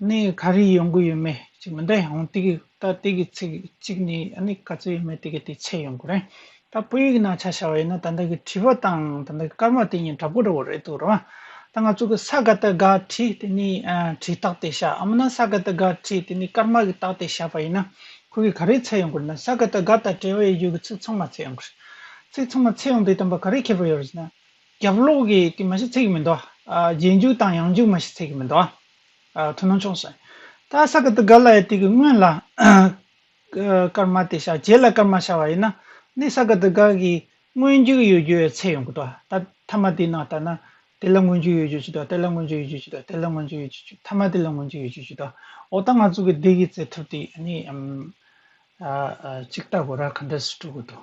ནས་ག་རེ་ཡོང་གི་ཡོད་མེད་ཅིག་མི་འདྲ་ཡང་དེ་གི་ད་ལྟའི་གི་ཚིག་གཅིག་ནས་ཨ་ནི་ག་ཚོད་ཡོད་མེད་དེ་གི་དེ་ཚད་ཡོང་གི་རེད། ད་བོད་ཡིག་ནང་ཆ་བྱ་བ་ཡིན་ན་ད་ལྟ་གི་བྲིས་པ་དང་ད་ལྟ་གི་སྐར་མ་དེ་གཉིས་འདྲ་པོ་འདྲ་བོ་རེད་འདུག་རེད། ད་ང་ཚོ་གི་ས་ག་ད་ག་བྲིས་དེ་ནི་བྲིས་རྟགས་དེ་བྱ་འམ་ན་ས་ག་ད་ག་བྲིས་དེ་ནི་སྐར་མ་གི་རྟགས་དེ་བྱ་བ་ཡིན་ན་ཁོ་གི་ག་རེ་ཚད་ཡོང་གི་རེད་ན་ས་ག་ད་ག་དང་བྲལ་བ་ཡི་ཡོད་གི་ཚིག་ཚང་མ་ཚད་ཡོང་གི་རེད། ཚིག་ཚང་མ་ཚད་ཡོང་དེ་དམ་པ་ག་རེ་ཁྱད་པར་ཡོད་རེད་ཟེར་ན། རྒྱབ་ལོག་གི་དེ་མ་གཞི་ཚད་ཀྱི་མི་འདུག་རྗེས་འཇུག་དང་ཡང་འཇུག་མ་གཞི་ཚད་ཀྱི་མི་འདུག། ཐུ་ནོ་ཆོག་སེ། ཏ་ས་ཀ་ཏི་ག་ལ་ཡའི་སྟེགས་ཀྱི་སྔོན་ལ། སྐར་མ་དེ་ཤར་རྗེས་ལ་སྐར་མ་ཤར་བ་ཡིན་ན། ནི་ས་ཀ་ཏི་ག་གི་སྔོན་འཇུག་ཡོད་རྒྱུའི་ཚད་ཡོང་གི་འདུག་ད་མཐའ་མ་དེའི་ནང་ལྟར་ན། དེ་ལ་སྔོན་འཇུག་ཡོད་རྒྱུ་བྱས་འདུག་དེ་ལ་སྔོན་འཇུག་ཡོད་རྒྱུ་བྱས་འདུག་དེ་ལ་སྔོན་འཇུག་ཡོད་རྒྱུ་བྱས་མཐའ་མ་དེ་ལ་སྔོན་འཇུག་ཡོད་རྒྱུ་བྱས་འདུག་འོ་ད་ང་ཚོ་གི་འདི་གི་རྩལ་ཐུབ་དེ་ནི། ཅིག་ལྟ་དགོས་ར་ག་འདྲ་སུ་སྤྲོད་དགོས་འདུག།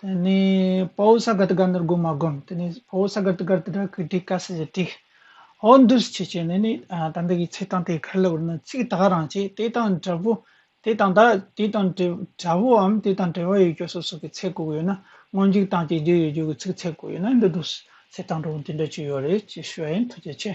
དེ་ནས་པའོ་སཱ་གཱ་ཏི་གཱ་ནི་རྒོད་མ་བསྒོམས་དེ་ནས་པའོ་སཱ་གཱ་ཏི་གཱ་ཏི་ར་གི་དྲི་ཀ་སི་ཡི་དྲི། ཧོ་འདུ་སི་ཆི་ཆི་ནི་ནི་དང་དེ་ཀའི་ཚེ་དང་དེའི་ཁར་ལ་བུར་ནི་ཚིག་དག་རང་བྱས་དེ་དང་འདྲ་བོ་དེ་དང་དག་དེ་དང་འདྲ་བོའམ་དེ་དང་བྲལ་བ་ཡོད་ཀྱི་སོ་སོ་གའི་ཚེ་གོ་གི་ཡོད་ན་སྔོན་འཇིག་དང་བཅས་རྒྱུ་ཡོད་རྒྱུ་གི་ཚིག་ཚེ་གོ་ཡོད་ན་འདི་འདུ་སི་ཚེ་དང་འདྲ་བོ་འདི་འདྲ་ཅི་ཡོད་རེད་ཅེས་ཞུ་བ་ཡིན་ཐུགས་རྗེ་ཆེ།